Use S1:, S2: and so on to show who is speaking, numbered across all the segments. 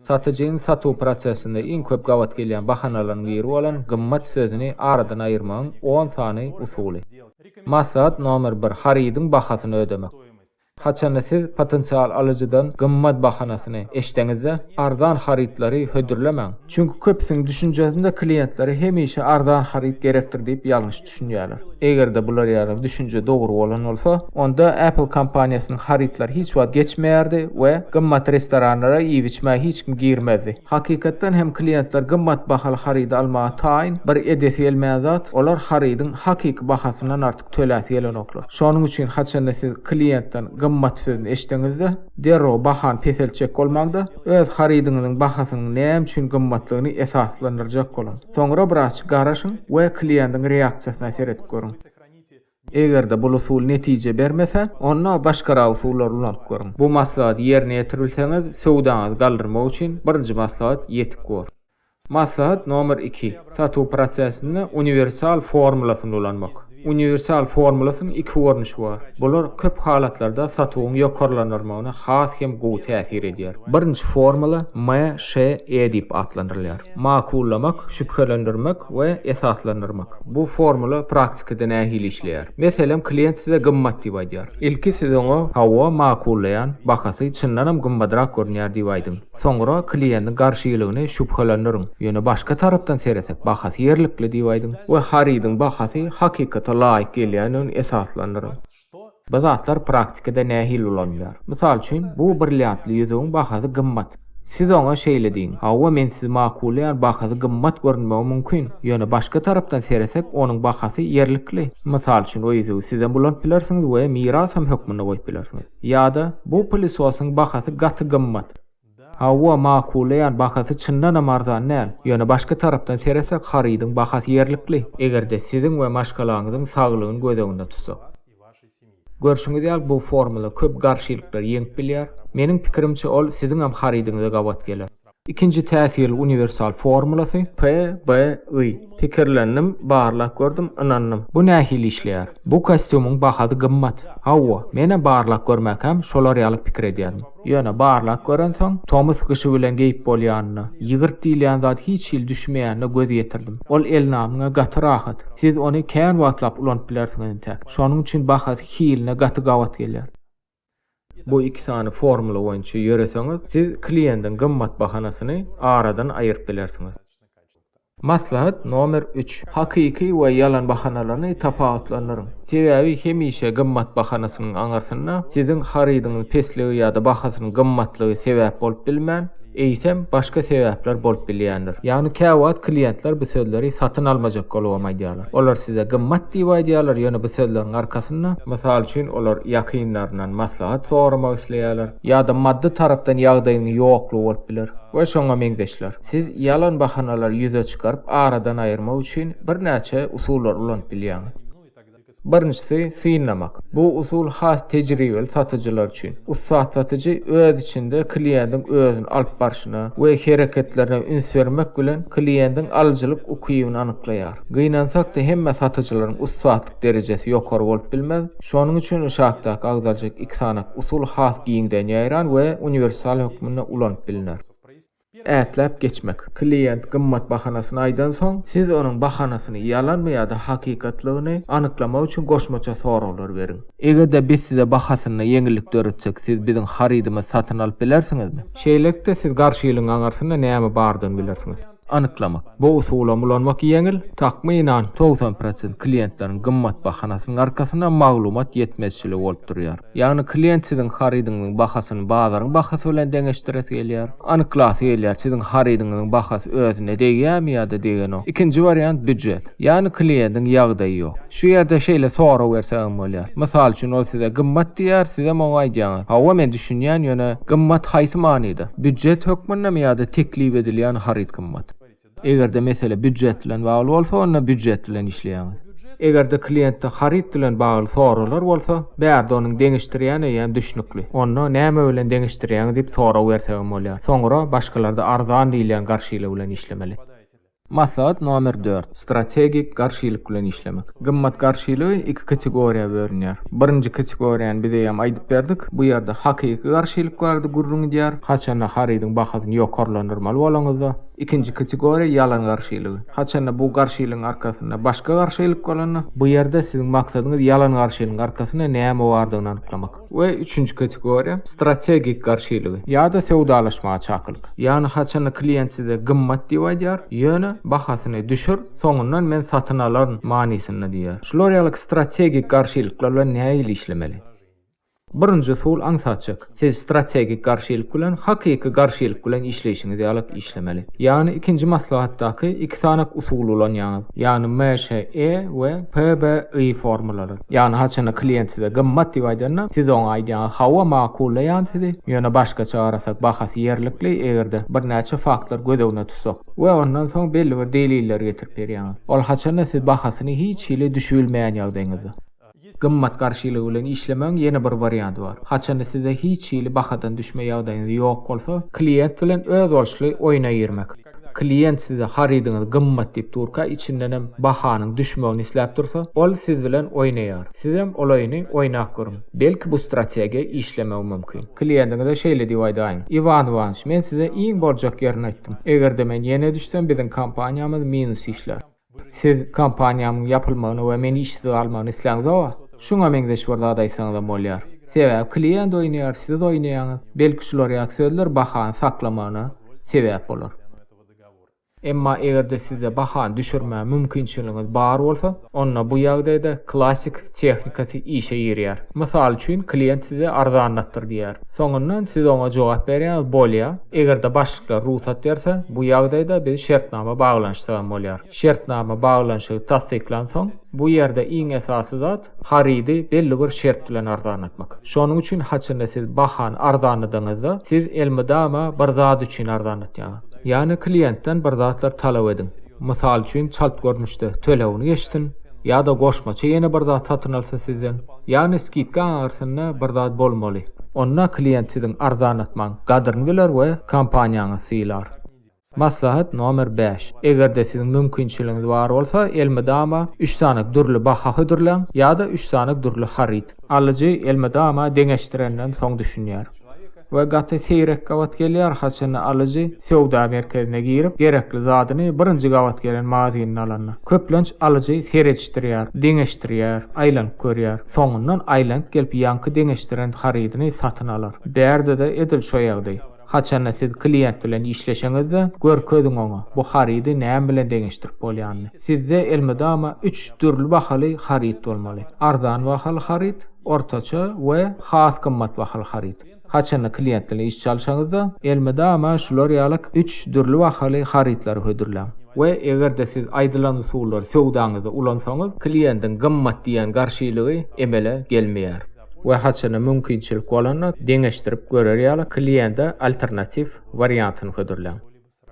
S1: Satyjynyň satuw prosesinde iň köp gabat gelýän bahanalaryň biri bolan gymmat sözüni aradan aýyrmagyň on sany usuly. Maslahat nomer bir, harydyň bahasyny ödemek. Haçanda siz potensial alyjydan gymmat bahanasyny eşdeňizde, arzan harytlary hödürlemäň. Çünki köpüsiniň düşünjesinde klientlere hemişe arzan haryt gerekdir diýip ýalňyş. düşünýärler. Eger-de bular ýaly düşünje dogry bolan bolsa, onda Apple kompaniýasynyň harytlary hiç wagt geçmeýärdi we gymmat restoranlara iýip-içmäge hiç kim girmezdi. Hakykatdan hem kliýentler gymmat bahaly harydy almaga taýyn, bir edesi gelmeýän zat, olar harydyň hakyky bahasyndan artyk töläsi gelenoklar. Şonuň üçin haçanda siz kliýentden gymmat sözüni eşitseňiz-de, derrew bahany peseltjek bolmaň-da, öz harydyňyzyň bahasynyň näme üçin gymmatlygyny esaslandyrjak boluň. Soňra biraz garaşyň we kliýentiň reaksiýasyna seredip görüň. Eger-de bul usul netije bermese, onda başgarak usullary ulanyp görüň. Bu maslahaty ýerine ýetirbilseňiz, söwdaňyzy galdyrmak üçin birinji maslahat ýetik bor. Maslahat nomer iki, satuw prosesinde uniwersal formulasyny ulanmak. Uniwersal formulasynyň iki görnüşi bar. Bular köp halatlarda satuwyň ýokarlandyrylmagyna has hem gowy täsir edýär. Birinji formula MŞE diýip atlandyrylýar, makullamak, şübhelendirmek we esaslandyrmak. Bu formula praktikada nähili işleýär? Meselem, klient size gymmat diýip aýdýar. Ilki siz oňa, Hawa, makullaýan, bahasy çyndanam gymmadrak görünýär diýip aýdyň. Soňra kliýendiň garşylygyny şübhelendiriň, ýöne başga tarapdan seresek, bahasy ýerlikli diýip aýdyň we harydyň bahasy hakykata laýyk gelýändigini esaslandyryň. Bu zatlar praktikada nähili ulanylýar? Mysal üçin, bu brilliantly ýüzügiň bahasy gymmat. Siz oňa şeýle diýiň, Hawa, men sizi makullaýan, bahasy gymmat görünmegi mümkin, ýöne başga tarapdan seresek, onuň bahasy ýerlikli. Mysal üçin, o ýüzügi sizem ulanyp bilersiňiz we mirasam hökmünde goýup bilersiňiz. Ýa-da bu pylysosyň bahasy gaty gymmat. Hawa, makullaýan, bahasy çyndanam arzan däl. Ýöne başga tarapdan seretsek, harydyň bahasy ýerlikli, eger-de siziň we maşgalaňyzyň saglygyny göz öňünde tutsak. Görşüňiz ýaly, bu formula köp garşylyklary ýeňip bilýär. Meniň pikirimçe, ol siziňem harydyňyza gabat geler. Ikinji täsirli uniwersal formulasy, PBI. Pikirlendim, barlap gördüm, ynandym. Bu nähili işleýär? Bu kostýumyň bahasy gymmat. Hawa, menem barlap görmäkäm şolar ýaly pikir edýärdim. Ýöne barlap görensoň, tomus-gyşy bilen geýip bolýanyna, ýygyrt diýilýän zat hiç hili düşmeýänine göz ýetirdim. Ol elnamyňa gaty rahat. Siz ony kän wagtlap ulanyp bilersiňiz entäk. Şonuň üçin bahasy hiline gaty gabat gelýär. Bu iki sany formula boýunça ýöreseňiz, siz kliýendiň gymmat bahanasyny aradan aýyryp bilersiňiz. Maslahat nomer üç, Hakyky we ýalan bahanalaryny tapawutlandyryň. Sebäbi hemişe gymmat bahanasynyň aňyrsynda siziň harydyňyz pesligi ýa-da bahasynyň gymmatlygy sebäp bolup bilmän, eýsem, başga sebäpler bolup bilýändir. Ýagny käwagt kliýentler bu sözleri satyn almajak golubam aýdýarlar. Olar size gymmat diýip aýdýarlar, ýöne bu sözleriň arkasynda, mysal üçin, olar ýakynlaryndan maslahat soramak isleýärler, ýa-da maddy tarapdan ýagdaýynyň ýoklugy bolup biler we şoňa meňzeşler. Siz ýalan bahanalary ýüze çykaryp, aradan aýyrmak üçin birnäçe usullary ulanyp bilýäňiz. Birinjisi, synlamak. Bu usul has tejribeli satyjylar üçin. Ussat satyjy öz içinde kliýentiň özüni alyp barşyna we hereketlerine üns bermek bilen, kliýentiň alyjylyk ukybyny anyklaýar. Gynansak-da, hemme satyjylaryň ussatlyk derejesi ýokary bolup bilmez. Şonuň üçin uşakdaky agzaljak iki sanaak usul has giňden ýaýran we uniwersal hökmünde ulanyp bilner. Ätläp geçmek. Klient gymmat bahanasyny aýdansoň, siz onuň bahanasyny, ýalanmy ýa-da hakykatlygyny, anyklamak üçin goşmaça soraglar beriň. Eger-de biz size bahasynda ýeňillik döretsek, siz biziň harydymyzy satyn alyp bilersiňizmi? Şeýlelikde, siz garşy ýylyň aňyrsynda näme bardygyny bilersiňiz. Anyklamak. Bu usulam ulanmak ýeňil, takmynan, togsan prosent klientleriň gymmat bahanasynyň arkasynda maglumat ýetmezçiligi bolup durýar. Ýagny klient siziň harydyňyzyň bahasyny bazaryň bahasy bilen deňeşdiresi gelýär. Anyklasy gelýär, siziň harydyňyzyň bahasy özüne degýärmi ýa-da degenok. Ikinji wariant býujet. Ýagny kliýendiň ýagdaýy ýok. Şu ýerde şeýle sorag berse hem bolýar. Mysal üçin ol size gymmat diýýär, sizem oňa aýdýaňyz, Hawa men düşünýän, ýöne gymmat haýsy manyda? Býujet hökmündemi ýa-da teklip edilýän haryt gymmat? Eger-de mesele býujet bilen bagly bolsa, onda býujet bilen işleýäňiz. Eger-de kliýentde haryt bilen bagly soraglar bolsa, bärde onuň deňeşdirýän eýýäm düşnükli. Onda näme bilen deňeşdirýäňiz diýip sorag bersegem bolýar. Soňra başgalarda arzan diýilýän garşylygy bilen işlemeli. Maslahat nomer dört, strategik garşylyk bilen işlemek. Gymmat garşylygy iki kategoriýa bölünýär. Birinji kategoriýany biz eýýäm aýdyp berdik. Bu ýerde hakyky garşylyk bardy gürrüň edýär. Haçanda harydyň bahasyny ýokarlandyrmaly bolaňyzda, Ikinji kategoriýa ýalan garşylygy. Haçanda bu garşylygyň arkasynda başga garşylyk bolanda. Bu ýerde siziň maksadyňyz ýalan garşylygyň arkasynda näme bardygyny anyklamak. We üçünji kategoriýa, strategik garşylygy ýa-da söwdalaşmaga çakylyk. Ýagny haçanda klient size gymmat diýip aýdýar, ýöne bahasyny düşür, soňundan men satyn alaryn manysynda diýýär. Şular ýaly strategik garşylyklar bilen nähili işlemeli? Birinji usul aňsatçyk. Siz strategik garşylyk bilen hakyky garşylyk bilen işleýşiňiz ýalyk işlemeli. Ýagny ikinji maslahatdaky iki sany usuly ulanýaňyz. Ýagny MŞE we PBI formalary. Ýagny haçanda klient size gymmat diýip aýdanda, siz oňa aýdýaňyz hawa makullaýan sizi, ýöne başgaça garasak bahasy ýerlikli egerde birnäçe faktlar göz öňüne tutsak. We ondan soň belli bir delilleri getirip berýäňiz. Ol haçanda siz bahasyny hiç hili düşübilmeýän ýagdaýyňyzda. Gymmat garşylygy bilen işlemegiň ýene bir warianty bar. Haçanda size hiç hili bahadan düşme ýagdaýyňyz ýok bolsa, klient bilen özboluşly oýna girmek. Klient size harydyňyz gymmat diýip durka, içindenem bahanyň düşmegini isläp dursa, ol siz bilen oýnaýar. Sizem ol oýny oýnap görüň. Belki bu strategiýa işlemegi mümkin. Klientiňize şeýle diýip aýdaýyň, Iwan Iwanyç, men size iň boljak ýerini aýtdym. Eger-de men ýene düşsem, biziň kompaniýamyz minus işlär. Siz kompaniýamyň ýapylmagyny we meni işsiz galmagyny isläňizoga, şuňa meňzeş bir zat aýtsaňyzam bolýar. Sebäbi klient oýnaýar, siz oýnaýaňyz. Belki şular ýaly sözler bahany saklamagyna sebäp bolar. Emma eger-de sizde bahany düşürmäge mümkinçiligiňiz bar bolsa, onda bu ýagdaýda klassik tehnikasy işe girýär. Mysal üçin, klient size arzanlatdyr diýýär. Soňundan siz oňa jogap berýäňiz, bolýa. Eger-de başlyklar rugsat berse, bu ýagdaýda biz şertnama baglanyşsagam bolýar. Şertnama baglanyşygy tassyklansoň, bu ýerde iň esasy zat, harydy belli bir şert bilen arzanlatmak. Şonuň üçin haçanda siz bahany arzanladygyňyzda, siz elmydama bir zat üçin arzanlatýaňyz. Ýagny kliýentden bir zatlar talap ediň. Mysal üçin çalt görnüşde tölegini geçsin ýa-da goşmaça ýene bir zat satyn alsa sizden, ýagny skidka aňyrsynda bir zat bolmaly. Onda klient siziň arzanlatmaň gadyryny biler we kompaniýaňyzy sylar. Maslahat nomer bäş, Eger-de siziň mümkinçiligiňiz bar bolsa, elmydama üç sany dürli baha hödürläň ýa-da üç sany dürli haryt. Alyjy elmydama deňeşdirenden soň düşünýär. we gaty seýrek gabat gelýär, haçanda alyjy söwda merkezine girip, gerekli zadyny birinji gabat gelen magazyndan alanda. Köplenç alyjy seredişdirýär, deňeşdirýär, aýlanyp görýär. Soňundan aýlanyp gelip ýaňky deňeşdiren harydyny satyn alar. Bärde-de edil şo ýagdaý. Haçanda siz kliýent bilen işleşeňizde, görkeziň oňa, bu harydy näme bilen deňeşdirip bolýanyny. Sizde elmydama üç dürli bahaly haryt bolmaly. Arzan bahaly haryt. Ortaça we has gymmat bahaly haryt. Haçanda klient bilen iş çalşaňyzda, elmydama şular ýaly üç dürli bahaly harytlary hödürläň. We eger-de siz aýdylan usullary söwdaňyzda ulansaňyz, kliendiň gymmat diýýän garşylygy emele gelmeýär. We haçanda mümkinçilik bolanda, deňeşdirip görer ýaly kliende alternatiw wariantyny hödürläň.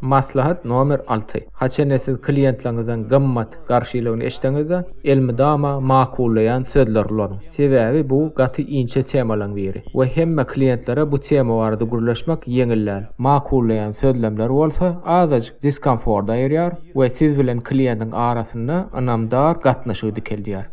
S1: Maslahat nomer alty, Haçanda siz kliýentleriňizden gymmat garşylygyny eşitseňiz-de, elmydama makullaýan sözler ulanyň. Sebäbi bu gaty inçe temalaryň biri we hemme kliýentlere bu tema barada gürleşmek ýeňil däl. Makullaýan sözlemler bolsa azajyk diskomfort aýyrýar we siz bilen kliýentiň arasynda ynamdar gatnaşygy dikeldýär.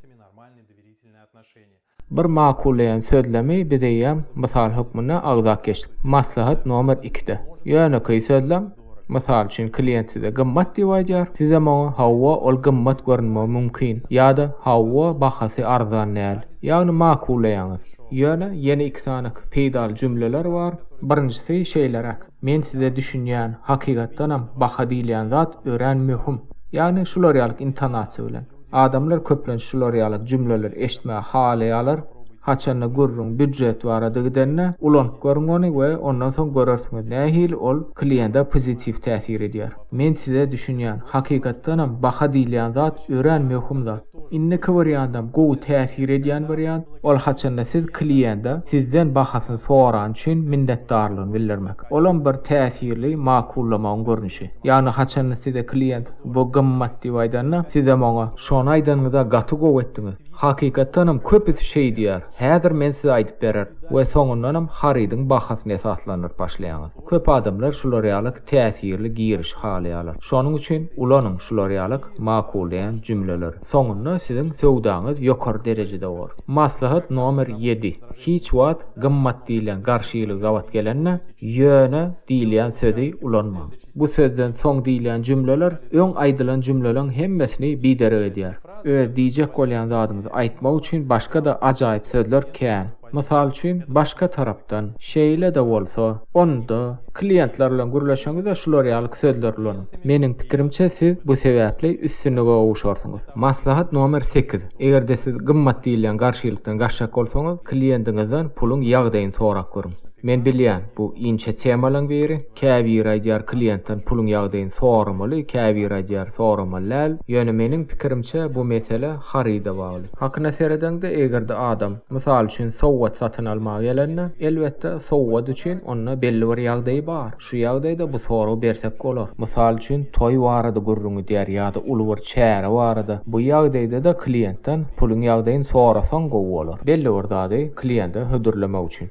S1: Bir makullaýan sözlemi biz eýýäm mysal hökmünde agzap geçdik. Maslahat nomer ikide. Ýönekeý sözlem, mysal üçin, klient size gymmat diýip aýdýar, sizem oňa hawa, ol gymmat görünmegi mümkin ýa-da hawa, bahasy arzan däl. Ýagny makullaýaňyz. Ýöne ýene iki sany peýdaly jümleler bar. Birinjisi şeýleräk, Men size düşünýän, hakykatdanam baha diýilýän zat örän möhüm. Ýagny şular ýaly intonasiýa bilen. Adamlar köplenç şular ýaly jümleleri eşitmegi halaýarlar, Haçanda gürrüň býujet barada gidende, ulanyp görüň ony we ondan soň görersiňiz nähili ol kliýente pozitiw täsir edýär. Men size düşünýän, hakykatdanam baha diýilýän zat örän möhüm zat. Indiki wariantdam gowy täsir edýän wariant, ol haçanda siz kliýente sizden bahasyny sorany üçin minnetdarlygyny bildirmek. Olam bir täsirli makullamagyň görnüşi. Ýagny haçanda size kliýent. Bu gymmat diýip aýdanda, sizem oňa, Şony aýdanyňyza gaty gowy etdiňiz. Hakykatdanam köpüsi şeý diýýär. Häzir men size aýdyp berer we soňundanam harydyň bahasyny esaslandyryp başlaýaňyz. Köp adamlar şular ýalyk täsirli girişi halaýarlar. Şonuň üçin ulanyň şular ýalyk makullaýan jümleleri. Soňunda siziň söwdaňyz ýokary derejede bolar. Maslahat nomer ýedi, Hiç wagt gymmat diýilýän garşy ýyly gabat gelende, ýöne diýilýän sözi ulanmaň. Bu sözden soň diýilýän jümleler öň aýdylan jümleleň hemmesini biderek edýär. Öz diýjek bolýan zadyňyzy aýtmak üçin başga-da ajaýyp sözler kän. Mysal üçin, başga tarapdan, şeýle-de bolsa, onda, kliýentler bilen gürleşeňizde şular ýaly sözler ulanyň. Meniň pikirimçe, siz bu sebäpli üstünlige gowuşarsyňyz. Maslahat nomer sekiz. Eger-de siz gymmat diýilýän garşylykdan gaçjak bolsaňyz, kliýentiňizden puluň ýagdaýyny sorap görüň. Men bilýän, bu inçe temalaryň biri. Käbiri aýdýar kliýentden puluň ýagdaýyny soramaly, käbiri aýdýar soramaly däl. Ýöne meniň pikirimçe bu mesele haryda bagly. Hakyna seredeňde egerde adam, mysal üçin sowgat satyn almaga gelende, elbetde sowgat üçin onda belli bir ýagdaýy bar. Şu ýagdaýda bu soragy bersek bolar. Mysal üçin toý barada gürrüň gidýär ýa-da uly bir çäre barada. Bu ýagdaýdada kliýentden puluň ýagdaýyny sorasaň gowy bolar. Belli bir zady kliýente hödürlemek üçin.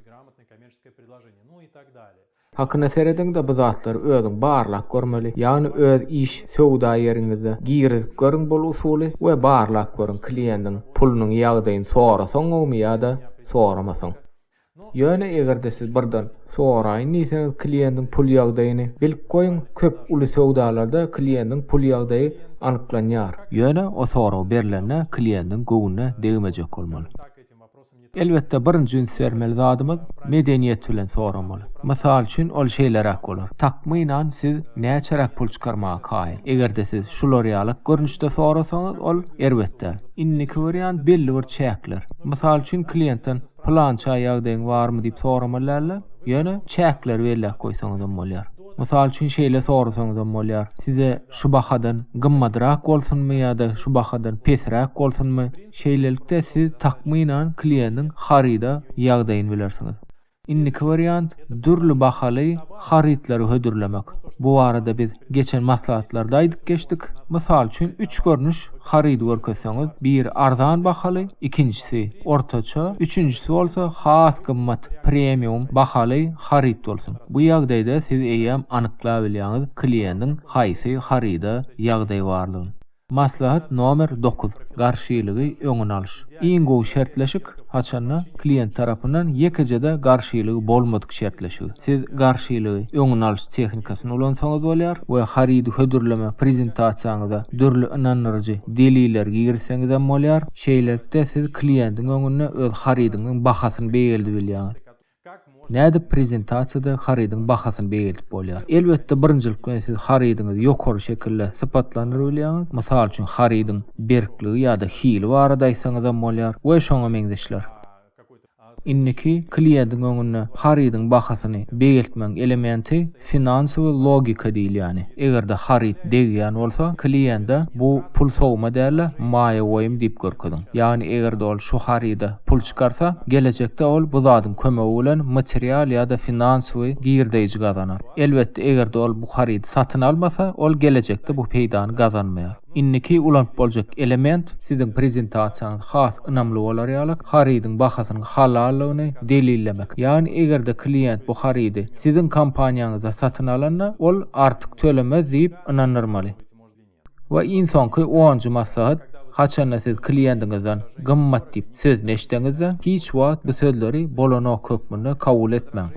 S1: Hakyna serediňde bu zatlary özüň barlap görmeli ýagny öz iş söwda ýeriňizde girizip görüň bul usuly we barlap görüň kliendiň pulunyň ýagdaýyny sorasaňňomy ýada soramasaň ýöne egerde siz birden soraýyn diýseňiz kliendiň pul ýagdaýyny bilip goýuň köp uly söwdalarda kliendiň pul ýagdaýy anyklanýar ýöne o sorag berlende kliendiň göwnüne degmejek bolmaly. Elbetde birinji üns bermeli zadymyz medeniýet bilen soramaly. Mysal üçin ol şeýleräk bolar, Takmynan siz näçeräk pul çykarmaga kaýyl? Egerde siz şular ýalak görnüşde sorasaňyz ol erbet däl. Indiki wariant belli bir çäkler. Mysal üçin kliýentden pylança ýagdaýyň barmy diýip soramaly dälde, ýöne çäkleri belläp goýsaňyzam bolýar. Mysal üçin şeýle sorasaňyzam bolýar, Size şu bahadan gymmadrak bolsunmy ýa-da şu bahadan pesräk bolsunmy? Şeýlelikde siz takmynan kliýendiň haryda ýagdaýyny bilersiňiz. Indiki wariant, dürli bahaly harytlary hödürlemek. Bu barada biz geçen maslahatlarda aýdyp geçdik. Mysal üçin üç görnüş harydy görkezseňiz, biri arzan bahaly, ikinjisi ortaça, üçünjisi bolsa has gymmat, premium, bahaly haryt bolsun. Bu ýagdaýda siz eýýäm anyklabilýäňiz kliendiň haýsy haryda ýagdaý barlygyn. Maslahat nomer dokuz, Garşylygy öňüni alyş. Iň gowy şertleşik, haçanda, klient tarapyndan ýekeje-de garşylygy bolmadyk şertleşigi. Siz garşylygy öňüni alyş tehnikasyny ulansaňyz bolýar we harydy hödürleme prezentasiýaňyza dürli ynandyryjy deliller girizseňizem bolýar. Şeýlelikde siz kliendiň öňünde öz harydyňyň bahasyny beýgeldibilýäňiz. Nädip prezentasiýada harydyň bahasyny beýgeldip bolýar? Elbetde, birinjilik bilen siz harydyňyzy ýokary şekilde sypatlandyryp bilýäňiz, mysal üçin, harydyň berkligi ýa-da hili barada aýtsaňyzam bolýar we şoňa meňzeşler. Indiki kliýentiň öňünde harydyň bahasyny beýgeltmegiň elementi, Finansiwi logika diýilýäni. Eger-de haryt degýän bolsa, kliýende bu pul sowma däl-de, maýa goýum diýip görkeziň. Ýagny eger-de ol şu haryda pul çykarsa, gelejekde ol bu zadyň kömegi bilen material ýa-da finansiwi girdeýji gazanar. Elbetde, eger-de ol bu harydy satyn almasa, ol gelejekde bu peýdany gazanmaýar. Indiki ulanyp boljak element, siziň prezentasiýaňyz has ynamly bolar ýaly, harydyň bahasynyň halallygyny delillemek. Ýagny eger-de kliýent bu harydy. siziň kompaniýaňyzda satyn alanda, ol artyk tölemez diýip ynandyrmaly. We iň soňky onunjy maslahat, haçanda siz kliýentiňizden gymmat diýip sözüni eşitseňizde, hiç wagt bu sözleri bolanok hökmünde kabul etmäň.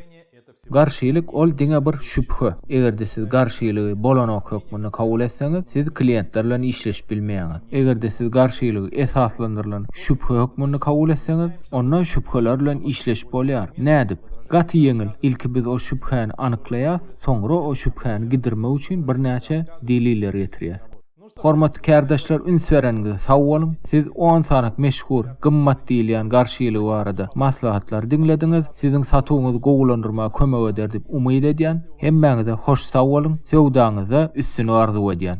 S1: Garşylyk ol diňe bir şübhe. Eger-de siz garşylygy bolanok hökmünde kabul etseňiz, siz kliýentler bilen işleşip bilmeýäňiz. Eger-de siz garşylygy esaslandyrylan şübhe hökmünde kabul etseňiz, Onda şübheler bilen işleşip bolýar. Nädip? Gaty ýeňil, ilki biz o şübhäni anyklaýas, soňra o şübhäni gidirmek üçin birnäçe deliller getirýäs. Hormatly kärdeşler üns bereniňize sag boluň. Siz on sanak meşhur, gymmat diýilýän garşylygy barada maslahatlary diňlediňiz. Siziň satuwyňyzy gowulandyrmaga kömek eder diýip umyt edýän. Hemmäňize hoş sag boluň, söwdaňyzda üstünlik arzuw edýän.